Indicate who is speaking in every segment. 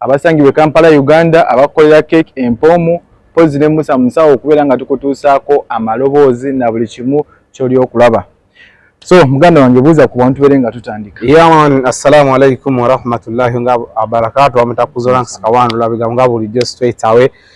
Speaker 1: abasangibwa e Kampala Uganda abakolera Cake Empoomu mpozzi ne Musa Musawo okubeera nga tukutuusaako amaloboozi na buli kimu ky'oli okulaba. So muganda wange buuza ku bantu bere nga tutandika. Yaman, assalamu
Speaker 2: alaikum warahmatullahi nga abarakatu wamutakuzola nsikawandula bigambo nga bulijjo straight away.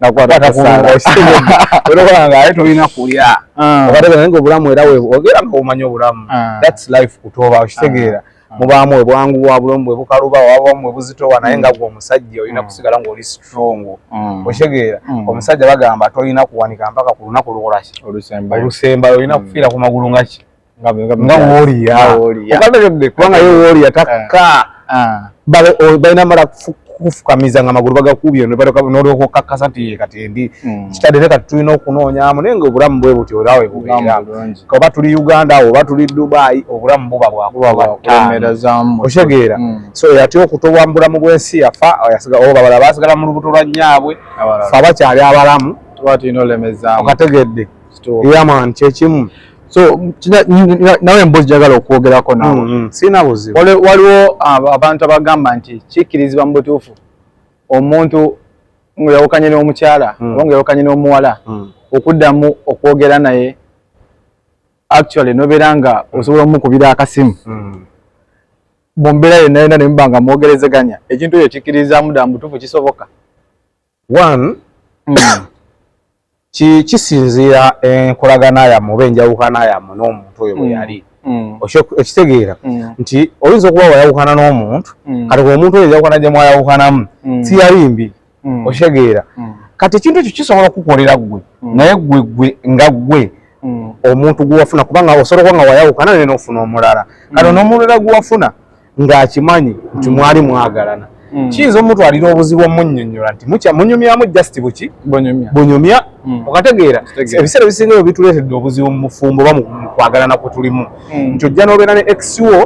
Speaker 1: nakwatakusaalaolanga
Speaker 2: tolina kulya ah. obategeera nga obulamu era ogera nga omanya obulamu ah. thats life kutoba okitegeera ah. mubaamu we bwangu bwa bulamu bwe bukaluba wabamu we buzitowa naye nga gwe omusajja olina mm. kusigala ngaoli strong mm. okitegeera mm. omusajja bagamba tolina kuwanika mpaka ku lunaku lwolaki olusembayo olina kufiira ku magulu ngaki nga woliya kubanga ye woliya takka balina mala kufukamiza nga amagulu bagakuubye nolyoka okkakkasa nti kati endi hmm. kitadde ne kati tulina okunoonyamu naye nga obulamu bwe buti olaawe bubeera oba tuli uganda awo oba tuli dubayi obulamu buba bwakubaokitegeera
Speaker 1: hmm. so
Speaker 2: yatya okutobwa mu bulamu bw'ensi yafa obabala basigala mu lubuto lwa nnyaabwe fe abakyali abalamu
Speaker 1: okategedde
Speaker 2: yaman kyekimu so
Speaker 1: nawe embozi jagala okwogerako nawe mm, mm. sirina buzibu
Speaker 2: waliwo
Speaker 1: abantu abagamba nti kikkirizibwa mu butuufu omuntu ngayawukanye n'omukyala mm. oba ngayawukanye n'omuwala okuddamu okwogera naye actually nobeera nga osobola omukubira akasimu mu mbeera yonna yonna nemuba nga mwogerezeganya ekintu ekyo kikkirizamu dda mu butuufu kisoboka
Speaker 2: one mm. kisinziira enkolagana yamu oba enjawukana yamu n'omuntu oyo bwe mm. yali mm. okitegeera mm. nti oyinza okuba wayawukana n'omuntu kati ku omuntu oyo enjawukana gye mwayawukanamu siyali mbi okitegeera kati ekintu ekyo kisobola okukukolera ggwe naye ggwe ggwe nga ggwe omuntu gwewafuna kubanga osobola okuba nga wayawukana naye n'ofuna omulala kati n'omulala gwewafuna ng'akimanyi nti mwali mwagalana hmm. kiyinza omutwalira obuzibu omunyonyola nti mukya munyumyamu just buki bunyumya hmm. okategeera ebiseera ebisinga ebyo bituleetedde obuzibu mu mufumbo oba mukwagalana kwe tulimu hmm. nti ojja n'obeera ne ex wo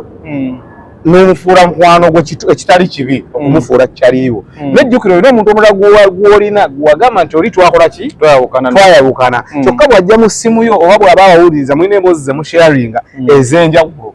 Speaker 2: n'omufuula mukwano gwe ekitali kibi mm. okumufuula kyaliiwo mm. nejjukira olina omuntu omulala gwolina gwagamba nti oli twakola ki twayawukana mm. kyokka bw'ajja mu ssimu yo oba bw'aba awuliriza mulina emboozi ze musharinga ez'enjawulo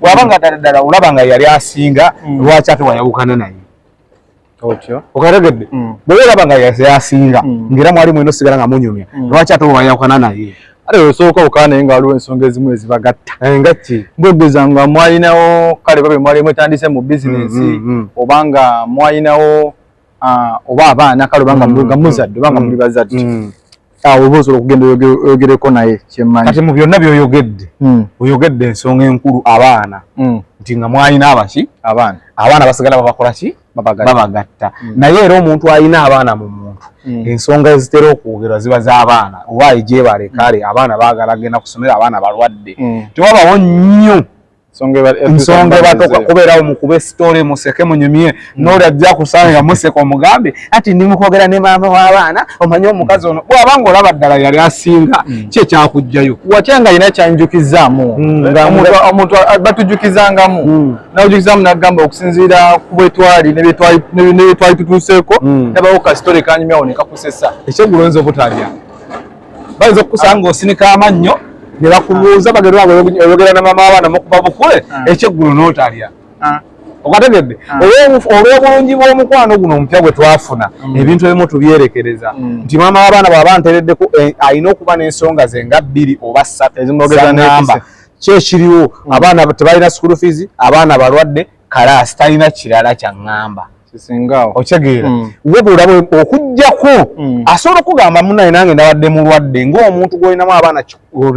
Speaker 2: bwaba nga ddala ddala olaba nga yali asinga mm. lwaki ate wayawukana naye okategedde mm. bweba olaba nga yasinga mm. ngaera mwali mwena osigala nga munyumya lwaki ate wayawukana naye ate osooka okana
Speaker 1: naye nga waliwo ensonga ezimu ezibagatta eh, ngaki mbwegeza
Speaker 2: nga
Speaker 1: mwalinawo kale babe mwali mwetandise mu bizinesi obanga mwalinawo ah, oba abaana kale obanga mm, nga muzadde obanga mm, muli bazadde mm. ah, oba osobola okugenda oyogereko naye kyemmanyi kati mu byonna byoyogedde
Speaker 2: oyogedde ensonga enkulu abaana nti nga mwalina abaki abaana abaana basigala babakola ki babagatta naye era omuntu alina abaana mu muntu ensonga ezitera okwogerwa ziba z'abaana owaayi gyebalekale abaana baagala genda kusomera abaana balwadde tewabawo nnyo nsonga ebatoka kubeerawo mukube sitole museke munyumye hmm. nooli ajja kusanga museka omugambe ati ndi mukwogera ne maama w'abaana omanye omukazi ono bwaba nga olaba ddala yali asinga hmm. ki ekyakujjayo watya nga yina
Speaker 1: kyanjukizaamu hmm, omuntu batujukizangamu nawujukizaamu nagamba okusinziira ku bwetwali nebyetwali tutuuseeko nabawo kasitole kanyumyawo nekakusesa ekyegulo nza obutalya
Speaker 2: bayinza okukusanga osinika amannyo ne bakubuuza bagenda oyogera na mama abaana mukuba bukule ah. ekyeggulu n'otalya ah. okategedde ah. olw'obulungi bw'omukwano guno omupya gwe twafuna mm. ebintu ebimu tubyerekereza mm. nti maama w'abaana bwaba ntereddeko eh, alina okuba n'ensonga ze nga bbiri oba ssatu ezimwogeza namba kyekiriwo mm. abaana tebalina school fees abaana balwadde kalaasi talina kirala kya ŋŋamba okitegeera mm. wabula okujjako mm. asobola okugamba munaye nange nabadde mulwadde ngaomuntu gwolinamu abaana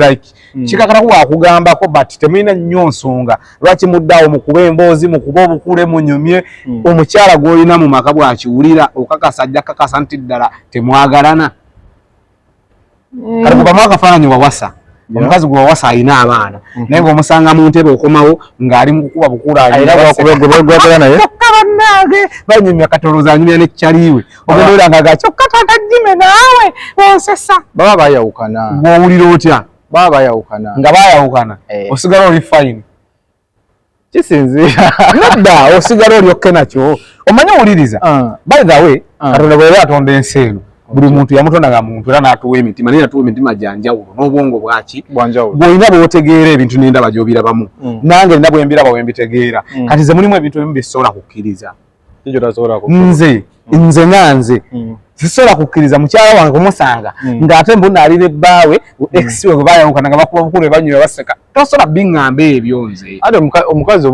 Speaker 2: like mm. kikakata ku wakugambako but temulina nnyo nsonga lwaki muddaawo mukuba emboozi mukuba obukule munyumye omukyala gwolina mu maka bwakiwulira okakasa ajja kakasa nti ddala temwagalana kati mukamu akafaananyi wawasa omukazi gwe wawasa alina abaana mhm. naye ngaomusanga mu ntebe okomawo ng'ali mu kukuba bukuulaagwebegwagala naye kyokka bannange banyumya katoloza anyumya ne kyaliwe ogendoera nga ga kyokka tata jime naawe onsesa baba bayawukana
Speaker 1: gwowulira otya
Speaker 2: baba bayawukana
Speaker 1: nga bayawukana
Speaker 2: eh. osigala oli fayini kisinziira
Speaker 1: nedda osigala
Speaker 2: olyokke nakyo omanyi owuliriza ah. by the way ah. katonda bweyali atonda ensi eno buli muntu yamutonda nga muntu era natuwa emitima naye natuwa emitima gyanjawulo n'obwongo bwaki bwolina bwotegeera ebintu nendaba gyobirabamu mm. nange nina bwembiraba wembitegeera mm. kati ze mulimu ebintu ebimu byesobola kukkiriza nze mm. nze nga nze mm. sisobola kukkiriza mukyala wange kumusanga mm. ng'ate mbuna ali ne bbaawe ex we bwebayawukana nga bakuba bukulu ebanyuma baseka tosobola biŋŋamba ebyo nze ate omukazi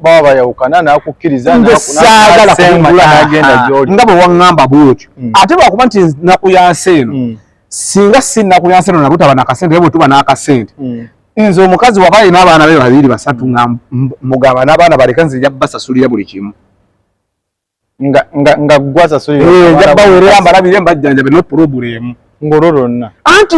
Speaker 1: baba bayawukana nakukkiriza saagala
Speaker 2: kumagenda ah, gyoli nga bwe waŋŋamba bwotyo ate lwakuba nti naku yansi eno singa si naku yansi eno nabutaba nakasente naye bwetuba n'akasente nze omukazi waba alina abaana be babiri basatu nga mugamba n'abaana baleka nze nja basasulira buli kimu
Speaker 1: nga gwasasulira bawerera mbalabire
Speaker 2: mbajjanjabe no pulobulemu ngolo lonna
Speaker 1: anti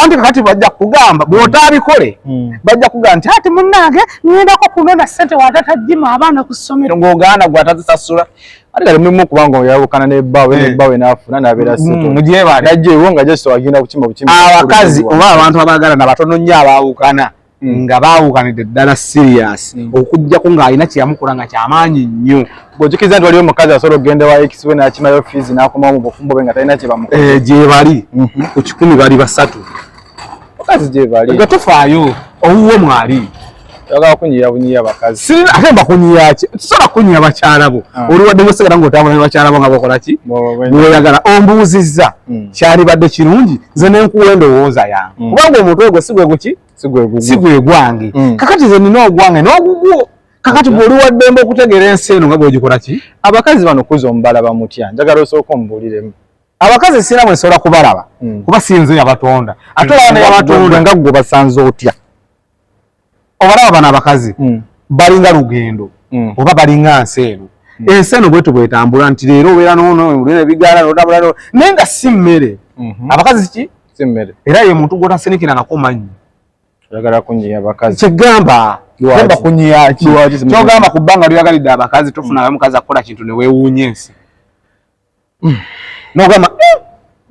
Speaker 2: anti kakati bajja kugamba bwotabikole hmm. bajja kugamba nti ati munnange ŋendako kunona ssente watatajjima abaana ku ssomero ng'ogaana gwatazisasula ate kati mulimu
Speaker 1: okubanga oyawukana ne bbaawe ne eh. bbaawe n'afuna n'abeera mm, sito mugyebale najja ewo nga just agenda kukima bukimi abakazi oba
Speaker 2: abantu abaagala na batono nnyo abaawukana mm. nga baawukanidde ddala serious mm. okujjako ng'alina kyeyamukola nga kyamaanyi nnyo bwojukiriza nti waliwo
Speaker 1: omukazi asobola okugenda wa ex we n'akimayo fiizi n'akomawo mu bufumbo bwe nga talina kyebamukola eh, gyebali mhm.
Speaker 2: ku kikumi bali basatu bakazi
Speaker 1: gyebali nga tofaayo
Speaker 2: owuwo mwali Yagala kunyiya
Speaker 1: bunyiya bakazi. Sirina ate mbakunyiya
Speaker 2: ki? Tusobola kunyiya bakyala bo. Ah. Oli wadde musigala ng'otambula ne bakyala bo nga bakola ki? Bw'oyagala ombuuzizza hmm. kyalibadde kirungi nze ne nkuwa endowooza yange. Hmm. Kubanga omutwe gwe si gwe guki? Si gwe gwange. Hmm. Kakati nze nina ogwange n'ogugwo. Kakati bw'oli wa ddembe okutegeera ensi eno nga bw'ogikola ki? Abakazi bano kuza
Speaker 1: omubalaba mutya? Njagala osooka omubuuliremu. Abakazi sirina
Speaker 2: mwe nsobola kubalaba kuba si nze yabatonda. Ate olaba ne yabatonda nga ggwe basanze
Speaker 1: otya?
Speaker 2: obalaba bano abakazi mm. balinga lugendo mm. oba balinga nsi eno mm. ensi eno bwetu bwetambula nti leero obeera nonolina ebigaala notambula no naye nga si mmere mm-hmm. abakazi ki si mmere era ye
Speaker 1: muntu
Speaker 2: gwotasinikirangako mannyi oyagala
Speaker 1: kunyiya bakazi kyegamba
Speaker 2: gamba kunyiya ki kyogamba ku bbanga lyoyagalidde abakazi tofunayo mukazi akukola kintu newewuunya ensi hmm. nogamba eh,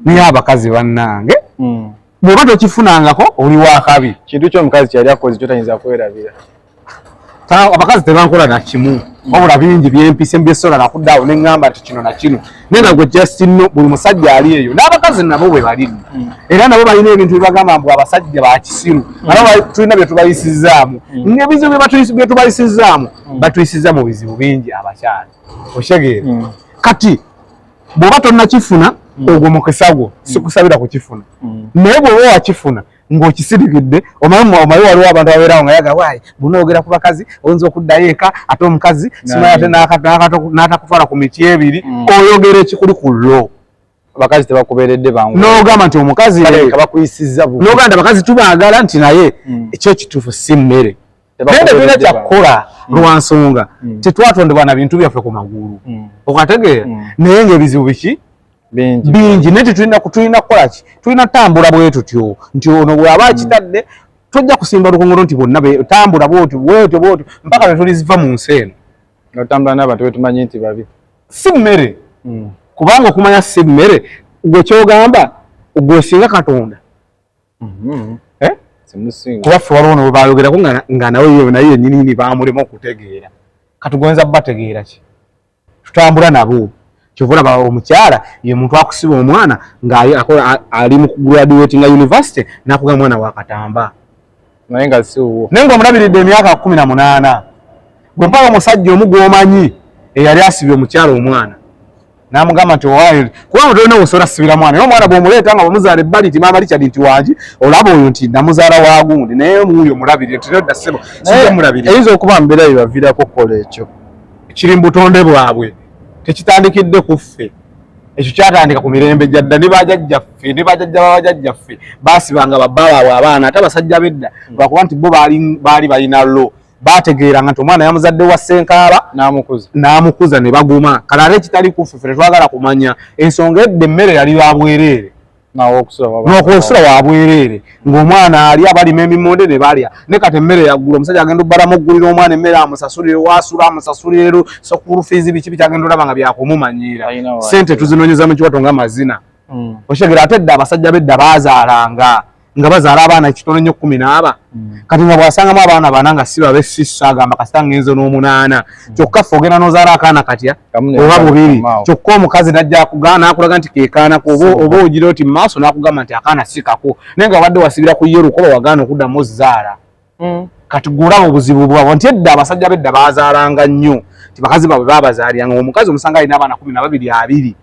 Speaker 2: naye abakazi bannange hmm. bwoba tokifunangako oli wakabi kintu kyomukazi kyeyali
Speaker 1: akozi kyotayinza kwerabira
Speaker 2: abakazi tebankola nakimu wabula bingi byempise mbyesola nakudaawo neŋamba nti kino nakino naye nagwe justino buli musajja ali eyo n'abakazi nabo bwe bali hmm. era nabo balina ebintu byebagamba mbu abasajja bakisiru hmm. aba tulina byetubayisizaamu hmm. ngebizibu byetubayisizaamu batuyisiza mu bizibu bingi abakyali okitegeera mm. kati bwoba tonnakifuna mm. ogwo mukisa gwo mm. sikusabira kukifuna naye bwoba wakifuna ng'okisirikidde omanyi waliwo abantu ababeerawo nga yaga waayi bunoogera ku bakazi oyinza okuddayo eka ate omukazi simanya ate n'atakufala ku miti ebiri oyogera ekikuli ku lo abakazi
Speaker 1: tebakubeeredde bangu n'ogamba nti omukazi
Speaker 2: baleka bakuyisizza bubi
Speaker 1: n'ogamba nti abakazi
Speaker 2: tubaagala nti naye hmm. ekyo ekituufu si mmere naye tetulina kyakukola hmm. lwa nsonga hmm. tetwatondebwa na bintu byaffe ku magulu okategeera naye ng'ebizibu biki bingi naye tetulina tulina kukola ki tulina kutambula bwe tutyo nti ono bw'aba akitadde tojja kusimba lukongolo nti bonna tambula bwotyo bwotyo bwotyo mpaka lwe tuliziva mu nsi eno nga tutambula n'abantu
Speaker 1: betumanyi nti babi si mmere
Speaker 2: mm. kubanga okumanya si mmere gwe kyogamba gwesinga katonda mm-hmm. eh? kuba ffe waliwo nabo bayogerako nga nawe yo naye yenyinini bamulema okutegeera katugonza bategeera ki tutambula nabo kyovula ba omukyala ye muntu akusiba omwana ng'ali mu graduatinga university nakuga mwana wakatamba naye
Speaker 1: nga si
Speaker 2: wuwo naye ngaomulabiridde
Speaker 1: emyaka
Speaker 2: kumi na munaana gwe mpala omusajja omu gwomanyi eyali asibye omukyala omwana namugamba nti owayo kuba mutolina obusobola sibira mwana naye omwana bwomuleeta nga bamuzaala ebbali nti maama richard nti wangi olaba oyo nti namuzaala wagundi naye omuuyo omulabirire nti nedda sebo siomulabirire eyinza okuba mbeera
Speaker 1: yebaviirako okukola ekyo kiri mu
Speaker 2: butonde bwabwe tekitandikidde ku ffe ekyo kyatandika ku mirembe gya dda ne bajajjaffe ne bajajja babajajjaffe baasibanga babbala abwe abaana ate abasajja bedda hmm. lwakuba nti bo baali balina lo baategeeranga nti omwana yamuzadde wa ssenkaaba n'amukuza ne baguma kale ate ekitali kuffe fe tetwagala kumanya ensonga edda emmere yali ya bwereere nokunsula wabwereere ngaomwana ali abalima emimonde nebalya ne kati emmere yaggula omusajja agenda obbalamu oggulira omwana emmere amusasulire wasula amusasulirero sokulu fiizi biki bikyagenda olaba nga byakumumanyiira sente tuzinonyeza mu kiwato nga mazina mm. okitegera ate dda abasajja bedda bazaalanga nga bazaala abaana ekitono nnyo kumi n'aba mm. kati nga bwasangamu abaana baana nga si babe sisa agamba kasita ngenze n'omunaana mm. kyokka fe ogenda nozaala akaana katya oba bubiri kyokka omukazi najja akugaa nakulaga nti kekaanako oba ogira oti mumaaso nakugamba nti akaana sikako naye nga wabadde wasibira ku ye lukoba wagaana okuddamu ozaala mm. kati gulaba obuzibu bwabo nti edda abasajja bedda bazaalanga nnyo nti bakazi babwe babazaaliranga omukazi omusanga alina abaana kumi nababiri abiri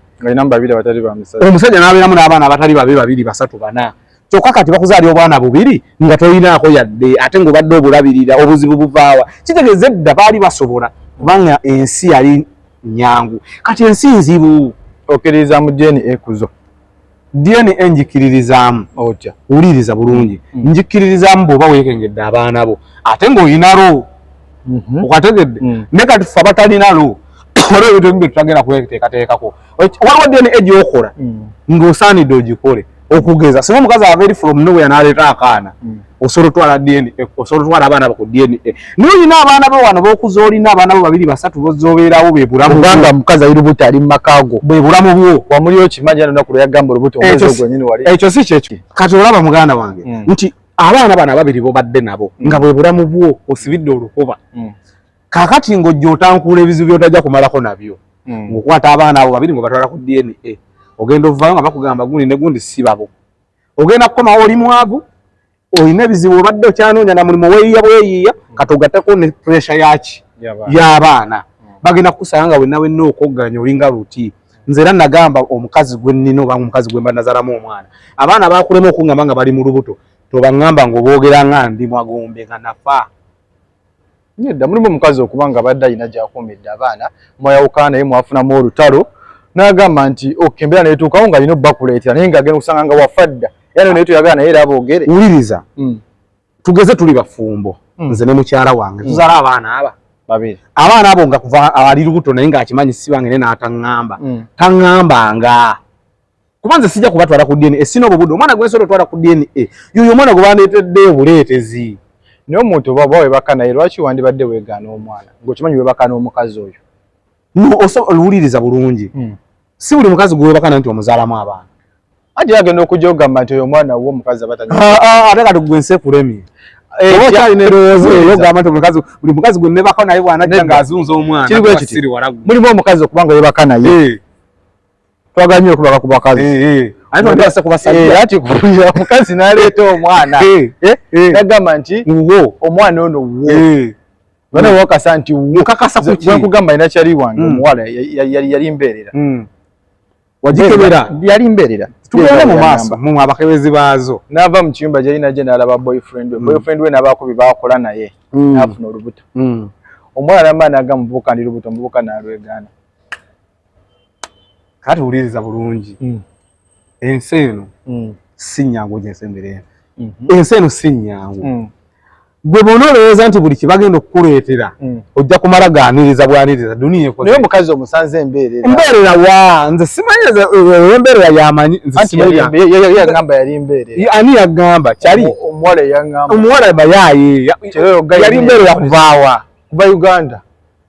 Speaker 2: omusajja nabeeramu n'abaana abatali babe babiri basatu bana kyokka kati bakuzaali obwana bubiri nga tolinaako yadde ate ngaobadde obulabirira obuzibu buvaawa kitegeeza edda baali basobola kubanga ensi yali nyangu kati ensi nzibu okiririza mu
Speaker 1: dna ekuzo dna
Speaker 2: njikiririzaamu otya wuliriza
Speaker 1: bulungi
Speaker 2: mm. njikiririzaamu bwoba weekengedde abaana bo ate ngaoyinalo mhm. okategedde mm. ne kati fe abatalinalo waliwo ebintu ebimu bye tutagenda kweteekateekako waliwo dna gyokola mm. ng'osaanidde ogikole okugeza singa omukazi ava eri from nowhere naleeta akaana hmm. osobola otwala dna eh, osobola otwala abaana ku dna eh, naye olina abaana bo wano bokuza olina abaana bo babiri basatu bozobeerawo bebulamuanga mukazi ali lubuto
Speaker 1: ali mu maka go bwebulamu bwo
Speaker 2: wamuli okimanyi anonaku
Speaker 1: lweyagamba olubuto gwenyini wali ekyo si kyekyo kati
Speaker 2: olaba muganda wange hmm. nti abaana bano ababiri bobadde nabo hmm. nga bwebulamu bwo osibidde olukuba kakati ng'ojja otankuula ebizibu byotajja kumalako nabyo hmm. ng'okwata abaana abo babiri ng'obatwala ku dna ogenda ovaayo nga bakugamba gundi ne gundi si babo ogenda kukomawo oli mwavu olina ebizibu obadde okyanoonya na mulimu weyiya bweyiya hmm. kati ogatteko ne puresha yaki y'abaana hmm. bagenda kukusanga nga wenna wenna okogganya olinga luti nze era nagamba omukazi gwe nnina oba omukazi gwe mba nazalamu omwana abaana bakulema okungamba nga bali mu lubuto tobaŋŋamba ng'oboogera nga ndi mwagombe nga nafa
Speaker 1: nedda mulimu omukazi okuba nga badde alina gyakuumidde abaana mwayawukana naye mwafunamu olutalo n'agamba nti ok embeera netuukawo nga alina obubakuleetera naye nga agenda okusanga nga wafa dda era nayo naye toyagala naye era aboogere wuliriza hmm.
Speaker 2: tugeze tuli bafumbo hmm. nze ne mukyala wange hmm. tuzaala abaana aba babiri abaana
Speaker 1: abo nga kuva
Speaker 2: ali lubuto naye ng'akimanyi sibange ne n'ataŋŋamba taŋŋambanga kuba nze sijja kubatwala ku dna sina obwo budde omwana gwensobola otwala ku dna yoyo omwana gwe bandeetedde obuleetezi naye omuntu
Speaker 1: oba oba webaka naye lwaki wandibadde weegaana omwana ngaokimanyi webaka n'omukazi oyo no owuliriza
Speaker 2: bulungi hmm. si buli mukazi gwe webaka naye nti omuzaalamu abaana ati agenda
Speaker 1: okujja ogamba nti oyo omwana wo omukazi abatanya ah, ah, ate kati gwe
Speaker 2: nsekulemye eh, oba okyalina erowoozo eyo ogamba nti omukazi buli mukazi gwe nebaka naye bwanajja ng'azunza omwana
Speaker 1: mulimu omukazi okuba nga webaka naye eh. twagala nyo okubaka ku bakazi eh, eh. ati kuulira mukazi naleeta omwana nagamba nti omwana ono wo bana wakasa nti wokakasakugamba
Speaker 2: ina kyali wange
Speaker 1: hmm. omuwala yali mbeerera hmm.
Speaker 2: wagikebera yali mbeerera
Speaker 1: tugende mu maaso
Speaker 2: mu abakebezi baazo n'ava mu kiyumba gyali
Speaker 1: naje n'alaba boyfriend we hmm. boyfriend we n'abaako bye baakola naye n'afuna olubuto omuwala namba n'aga muvubuka ndi lubuto muvubuka n'alwegaana
Speaker 2: kati wuliriza bulungi mm. ensi eno mm. si nyangu gyensembere mm-hmm. ensi eno si nyangu mm. gwe bona olowooza nti buli kibagenda okukuleetera mm. ojja kumala ganiriza bwaniriza duniya ekonaye omukazi omusanze
Speaker 1: embeerera mbeerera wa nze
Speaker 2: simanyiriza eh, embeerera yamanyi nzeyagamba
Speaker 1: yali embeerera ani yagamba
Speaker 2: kyali omuwala yagamba
Speaker 1: omuwala bayaye
Speaker 2: yali mbeerera kuvaawa kuva uganda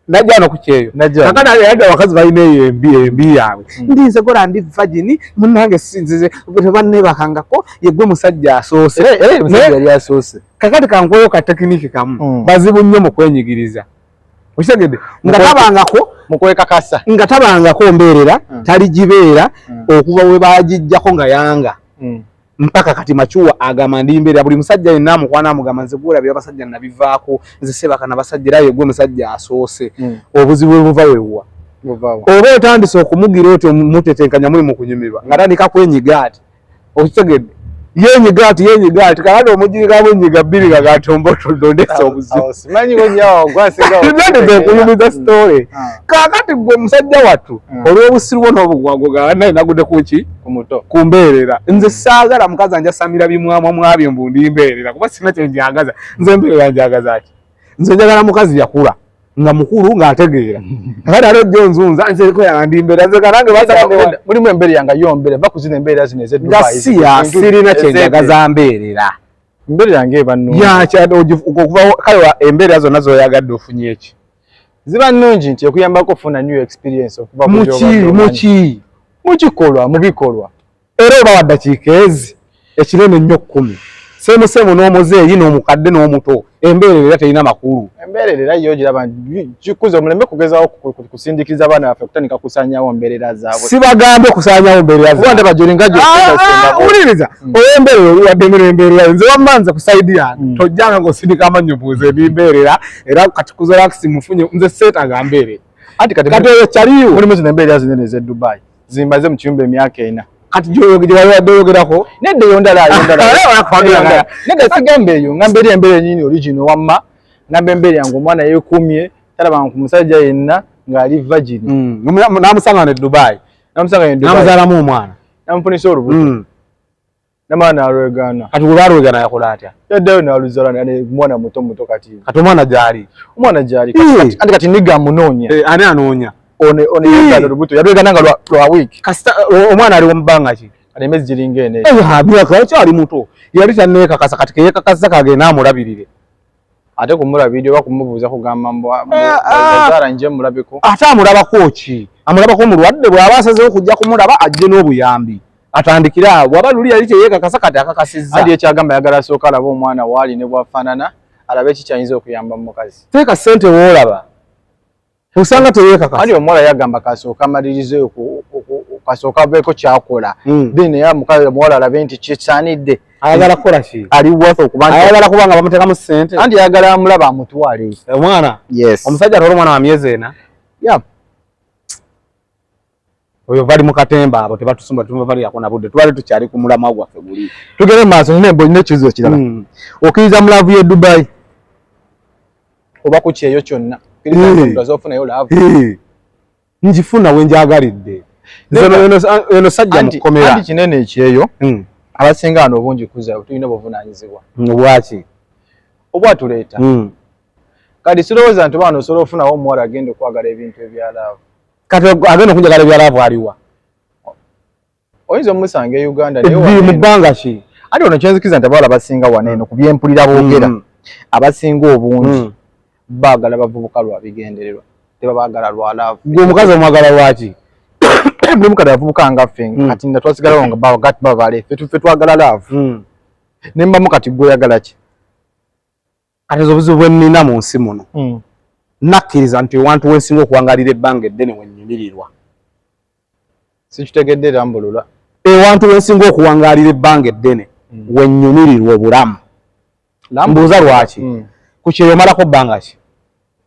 Speaker 1: najja no
Speaker 2: kukyeyo kakana yadde abakazi balina eyo embi embi yaabwe hmm. ndi nze gora ndi vagini munange sinzize tebannebakangako yegwe musajja asoose yali asoose
Speaker 1: kakati kankweyo ka
Speaker 2: tekiniki kamu hmm. bazibu nnyo mu kwenyigiriza okitegedde nga tabangako mukwekakasa
Speaker 1: nga tabangako
Speaker 2: mbeerera hmm. taligibeera okuva we bagijjako nga yanga mpaka kati macuwa agamba ndi mbeera buli musajja yenna amukwana amugamba nze gwolabira abasajja nabivaako nze sebaka nabasajja era yegwe musajja asoose hmm. obuzibu bwe buva wewuwa oba otandise okumugira otyo mutetenkanya muli mukunyumirwa nga tandika kwenyiga ati okitegedde yenyiga ati yenyiga ati kakati omujinga bwenyiga bbiri kakati ombotodondesa obuzibunandika okuyumiza hmm. sitole ah. kakati gwe musajja wattu hmm. olwobusiru bwo nobugwago ganaye nagude kuki omuto ku mbeerera nze mm. saagala mukazi anjasamira bimwamwa mwabyo mbu ndi mbeerera kuba sina kye njagaza nze mbeerera njagaza ki nze njagala mukazi yakula nga mukulu ng'ategeera kakati ate ojja onzunza nzeko yandi mbeera nze kanange mulimu embeera yanga yo
Speaker 1: mbeera va kuzina embeera zino ezeduga siya
Speaker 2: sirina kye njagaza mbeerera mbeera yange
Speaker 1: ebanu yakyad okuvawo
Speaker 2: kale embeera zonna zoyagadde ofunye eki ziba nnungi
Speaker 1: nti ekuyambako okufuna new experience okuva muki mukikolwa mu bikolwa era oba
Speaker 2: waddakiika ezi ekinene nnyo kkumi semusemu n'omuzeeyi n'omukadde n'omuto embeerera era terina makulu embeerera era yo giraba
Speaker 1: kikuza omulembe kugezawo kusindikiza abaana baffe kutandika kusaanyawo mbeerera zaabwe sibagambe kusaanyawo
Speaker 2: mbeerera zaabwe jolinga
Speaker 1: jowuliriza
Speaker 2: ah, ah, hmm. olw'embeerera oli waddemu n'embeerera nze wamma nze ku saidi yange hmm. tojjanga ng'osindika amannyo buuza emimbeerera era kati kuzalakisi mufunye nze seeta gambeere anti kati kati oyo kyaliwo mulimu zino embeera zinene
Speaker 1: ez'e dubai zimbaze mu kiyumba emyaka ena kati gyewabadde
Speaker 2: oyogerako nedda eyo ndala yondala
Speaker 1: nedda sigamba eyo ngamba eri embeera enyini origino wamma ngamba embeera yange omwana yeekuumye talabanga ku musajja yenna ng'ali vagini hmm, namusanga
Speaker 2: ne dubai namusanga ne dubai namuzaalamu omwana namufunisa olubuto hmm.
Speaker 1: Namala nalwegaana. Kati bwe balwegaana yakola
Speaker 2: atya? Yaddayo naluzala
Speaker 1: ne mwana muto muto kati. Kati omwana gyali?
Speaker 2: Omwana gyali. Kati
Speaker 1: andi kati nigga amunoonya. Eh, ani anoonya?
Speaker 2: One one yagaana
Speaker 1: olubuto. Yalwegaana nga lwa wiiki. Kasita omwana ali mu
Speaker 2: bbanga ki? Kati emyezi giringa ena.
Speaker 1: Eh, ha, myaka akyali muto.
Speaker 2: Yali tanneekakasa kati ke yeekakasa kagende amulabirire. ate
Speaker 1: kumula video oba kumubuuza kugamba mbwazara nje mulabeko ate amulabako
Speaker 2: ki amulabako mulwadde bwaba asazewo okujja kumulaba ajje n'obuyambi atandikire awo bwaba luli yali teyekakasa kati akakasizza adi ekyagamba yagala
Speaker 1: asooka alaba omwana waali ne bwafaanana alabe kikyayinza okuyamba mu mukazi teeka ssente woolaba
Speaker 2: osanga teyekaka ali omuwala yagamba
Speaker 1: kasooka amalirize kasooka aveeko kyakola hmm. then era mukazi omuwala alabe nti kisaanidde ayagala kukola ki
Speaker 2: ali worth okuba nti
Speaker 1: ayagala kuba nga bamuteekamu
Speaker 2: ssente anti ayagala amulaba
Speaker 1: amutwale omwana yes
Speaker 2: omusajja atwala omwana wa myezi ena yep oyo bali mu katemba abo tebatusumba tubabalirako na budde tubale tukyali ku mulamwa gwaffe guli tugere mu maaso nina embonyi
Speaker 1: n'ekizibu ekirala hmm. okiriza mu laavu y'e dubayi oba ku kyeyo kyonna okirizazofunayo eh. laavu eh.
Speaker 2: ngifuna we njagalidde eno sajja mukukomera kinene ekyeyo
Speaker 1: hmm. abasinga wano obungi kuza tulina obuvunaanyizibwa hmm, obwaki obwatuleeta kati sirowooza nti baana osobola ofunawo omuwala agenda okwagala ebintu ebya laavu kati agenda
Speaker 2: okunjagala ebyalaavu aliwa
Speaker 1: oyinza omusanga e uganda mu bbanga ki
Speaker 2: ati ono kyenzikiza nti
Speaker 1: abawala basinga wano eno ku byempulira boogera mm. abasinga obungi mm. baagala bavubuka lwa bigendererwa tebabaagala lwa laavu gwe omukazi omwagala
Speaker 2: lwaki buli
Speaker 1: mukati avubuka nga ffe mm. kati nga twasigalawo nga bagat babale fe twagala laavu ne mbamu kati gweoyagala ki
Speaker 2: kati ezo obuzibu bwe nnina mu nsi muno mm. nakkiriza nti ewantu wensinga okuwangalira ebbanga eddene we nnyumirirwa
Speaker 1: sikitegedde era mbulula ewantu wensinga
Speaker 2: okuwangalira ebbanga eddene mm. we nnyumirirwa obulamu mbuuza lwaki mm. ku kyeyo omalako bbanga ki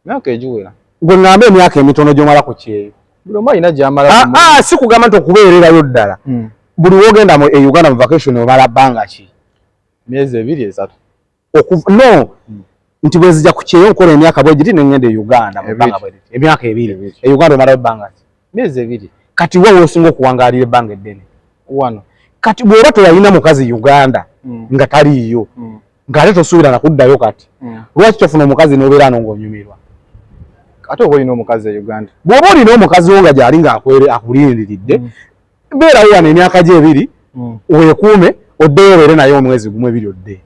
Speaker 2: myaka egiwera
Speaker 1: gwe ŋŋamba emyaka
Speaker 2: emitono gy'omala ku kyeyo buli omu alina gyamala
Speaker 1: ah, ah, si kugamba nti okubeererayo
Speaker 2: ddala buli wogenda e uganda mu vacation omala bbanga ki myezi ebiri
Speaker 1: esatu no
Speaker 2: hmm. nti bwezija ku kyeyo nkola emyaka bwegiri nengenda e uganda mubanga bweriti emyaka ebiri e uganda omalayo ebbanga ki myezi ebiri
Speaker 1: kati wa wosinga
Speaker 2: okuwangalira ebbanga eddene wano
Speaker 1: kati bwoba
Speaker 2: teyalina mukazi uganda hmm. nga taliiyo hmm. ngaate tosuubira nakuddayo kati lwaki tofuna omukazi nobeera ano ngaonyumirwa
Speaker 1: ate oba olina omukazi e uganda bwoba olina omukazi wo
Speaker 2: nga gyali nga akuliriridde beerawo wano emyaka gyo ebiri mm. weekuume oddeyo obeere naye omwezi gumu ebiri odde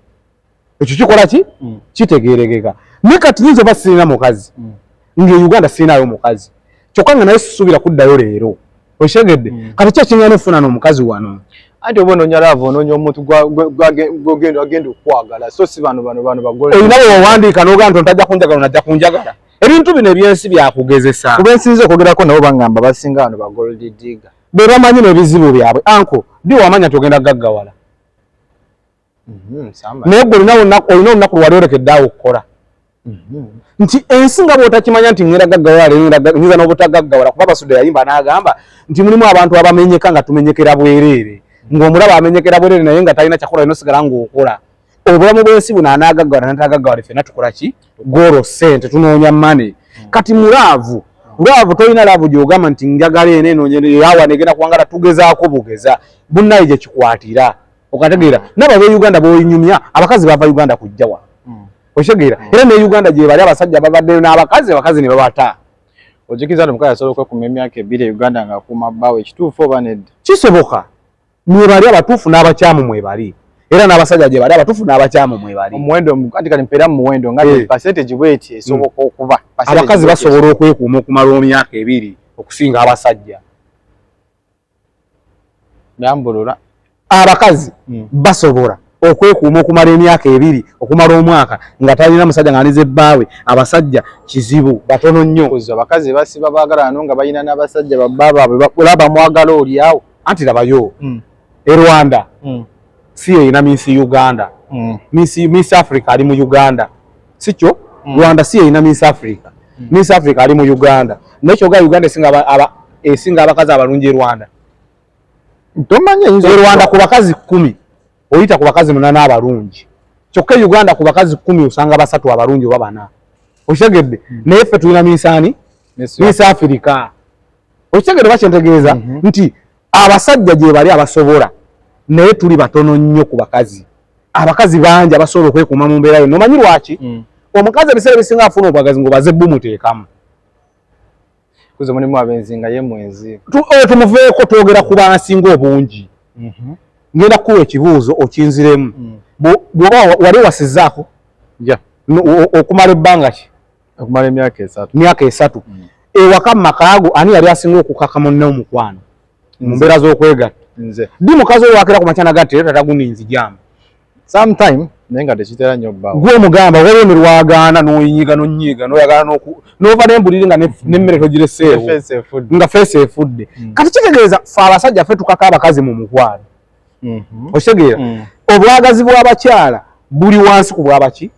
Speaker 2: ekyo kikola ki mm. kitegeerekeka ne kati yinza oba sirina mukazi mm. nga e uganda sirinayo mukazi kyokka nga naye sisuubira kuddayo leero okitegedde mm. kati ki ekiŋana ofuna n'omukazi wano anti oba ononya lava
Speaker 1: ononya omuntu gwagenda okwagala so si bano bano bano bagole olina wewawandiika
Speaker 2: nogaa nti ontajja kunjagala onajja kunjagala ebintu bino ebyensi byakugezesa kuba ensinza okwogerako
Speaker 1: nabo bangamba basinga wano bagolddiga
Speaker 2: be bamanyi nebizibu byabwe anko bi
Speaker 1: wamanya
Speaker 2: tugenda gaggawala mhm, naye gwe olina olunaku lwaliolekeddaawo okukola mhm. nti ensi nga bwotakimanya nti ngera gaggawala nyiza n'obutagaggawala kuba basuda yayimba n'agamba nti mulimu abantu abamenyeka nga tumenyekera bwereere ng'omulaba amenyekera bwereere naye nga talina kyakola inosigala ng'okola obulamu bwensi buno anagagala natagagala fena tukola ki goro sente tunoonya mane hmm. kati mulaavu lwavu tolina laavu gyogamba nti njagala eno enonyawa negenda kuwangala tugezaako bugeza bunnaye gyekikwatira okategeera hmm. naba beuganda boinyumya abakazi bava uganda kujjawa hmm. okitegeera era ne uganda gyebali abasajja babaddeyo n'abakazi abakazi ne babata ojikiza nti
Speaker 1: omukazi asobola okwekuma emyaka ebiri e uganda ng'akuuma bbaawe ekituufu oba nedda kisoboka
Speaker 2: mwebali abatuufu n'abakyamu mwebali era n'abasajja gye bali abatuufu n'abakyamu mwebali omuwendo anti kati mpeera
Speaker 1: mu muwendo nga eh. percentage bweti esoboka hmm. okuba abakazi basobola
Speaker 2: okwekuuma okumala omyaka ebiri okusinga abasajja
Speaker 1: nambulula abakazi
Speaker 2: hmm. basobola okwekuuma okumala emyaka ebiri okumala omwaka nga talina musajja nga alize bbaawe abasajja kizibu batono nnyo abakazi basiba
Speaker 1: baagalano nga balina n'abasajja babba baabwe olaba mwagala olyawo anti labayo
Speaker 2: mm. e rwanda mm. si yeyina minsi uganda mm. minsi, minsi africa ali mu uganda sikyo mm. rwanda si yeyina minsi africa mm. minsi africa ali mu uganda nekyoga uganda esinga abakazi abalungi e rwanda
Speaker 1: tomanya e rwanda ku
Speaker 2: bakazi kumi oyita ku bakazi munana abalungi kyokka e uganda ku bakazi kumi osanga basatu abalungi oba bana okitegedde mm. naye ffe tulina minsi ani minsi africa okitegere bakyentegeeza mhm. nti abasajja gyebali abasobola naye tuli batono nnyo ku bakazi abakazi bangi abasobola okwekuuma mu mbeera yonna omanyi lwaki mm. omukazi ebiseera bisinga afuna obwagazi ngaobaze bumuteekamu
Speaker 1: kuze mulimu abenzi nga ye mwenzi oyo tumuveeko
Speaker 2: twogera ku bansinga obungi mhm. ngenda kukuwa ekibuuzo okinziremu mm. bwoba wali wasizaako okumala ebbanga ki okumala emyaka
Speaker 1: esatu myaka esatu mm.
Speaker 2: ewaka mu maka ago ani yali asinga okukaka munne omukwano mu mbeera z'okwegatta nze ddi mukazi
Speaker 1: oyo wakira ku
Speaker 2: makyana gatti era tata guninzi jamu sometime
Speaker 1: naye nga tekitera nnyo bbawo gwe omugamba waliwo ne
Speaker 2: lwagaana n'oyinyiga n'onyiiga n'oyagala n'oku n'ova n'embuliri nga mm. n'emmere togireseewo nga feesi efudde mm. kati kitegeeza fe abasajja fe tukaka abakazi mu mukwano mhm. okitegeera mm. obwagazi bw'abakyala buli wansi ku bwabaki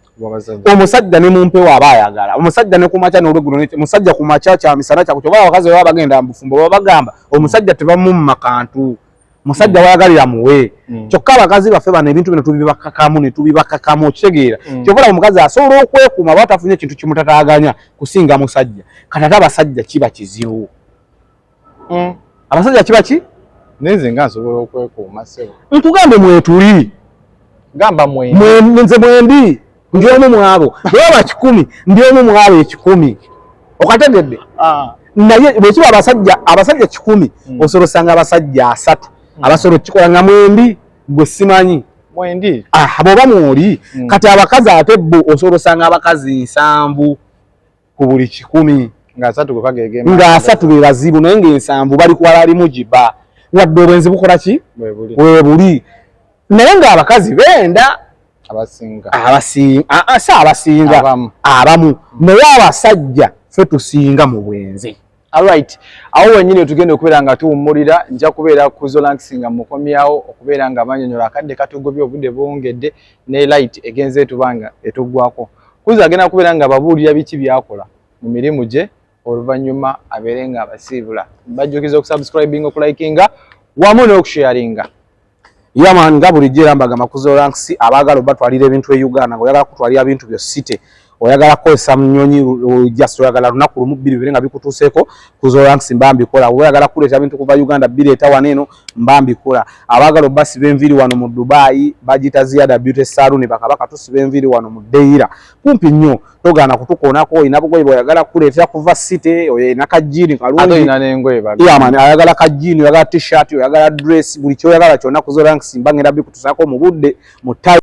Speaker 2: omusajja ne mumpewo aba ayagala omusajja ne kumakya n'olweggulo musajja ku makya kya misana kyaku kyoba abakazi baba bagenda mu bufumbo baba bagamba omusajja tebamumma kantu musajja mm. wayagalira muwe mm. kyokka abakazi baffe bano ebintu bino tubibakakamu ne tubibakakamu okitegeera mm. kyova laba omukazi asobola okwekuuma aba tafunye ekintu kimutataaganya kusinga musajja kati ate abasajja kiba kizibu mm. abasajja kiba ki nenze nga nsobola
Speaker 1: okwekuuma sebo nkugambe mwetuli
Speaker 2: gamba
Speaker 1: mwenze
Speaker 2: mwendi ndi omu mwabo naye aba kikumi ndi omu mwabo ekikumi okategedde ah. naye bwekiba abasajja abasajja kikumi mm. osobola osanga abasajja asatu mm. abasobola okukikola nga mwendi gwe simanyi mwendi ah,
Speaker 1: bwoba mwoli
Speaker 2: mm. kati abakazi ate bo osobola osanga abakazi nsanvu ku buli kikumi nga asatu gwe kagege
Speaker 1: nga asatu
Speaker 2: be bazibu naye nga ensanvu bali kwala ali mujiba wadde obwenzi bukola ki we buli naye nga abakazi benda abasinga abasinga ah, ah, si abasinga abamu naye abasajja fe tusinga mu bwenzi Alright,
Speaker 1: awo wenyini otugenda okubeera nga tuwummulira nja kubeera ku Zolanx nga mukomyawo okubeera nga abanyonyola akadde katugobye obudde buwungedde ne light egenze etubanga etuggwako. Kuzo agenda kubeera nga ababuulira biki byakola mu mirimu gye oluvannyuma abeere nga abasiibula. Mbajjukiza okusubscribinga, okulikinga wamu n'okusharinga. Yaman
Speaker 2: nga bulijjo era mbaga makuzo ranks abaagala obatwalira ebintu e Uganda ng'oyagala kutwalira ebintu byo city oyagala kukozesa munyonyi just oyagala lunaku lumu bbiri bibiri nga bikutuuseeko kuzo ranks mba mbikola oba oyagala kuleeta bintu kuva Uganda bireeta wano eno mba mbikola abaagala obasiba enviiri wano mu Dubai bagiyita ziyada beauty saloon bakaba katusiba enviiri wano mu Deira kumpi nnyo togaana kutukoonako olina bugoye bweoyagala kuleetera kuva city oyina kajiini kalungiamani ayagala kajiini oyagala t-shirt oyagala dress buli kyoyagala kyonna kuzoransimba ngenda bikutusaako mu budde mu tai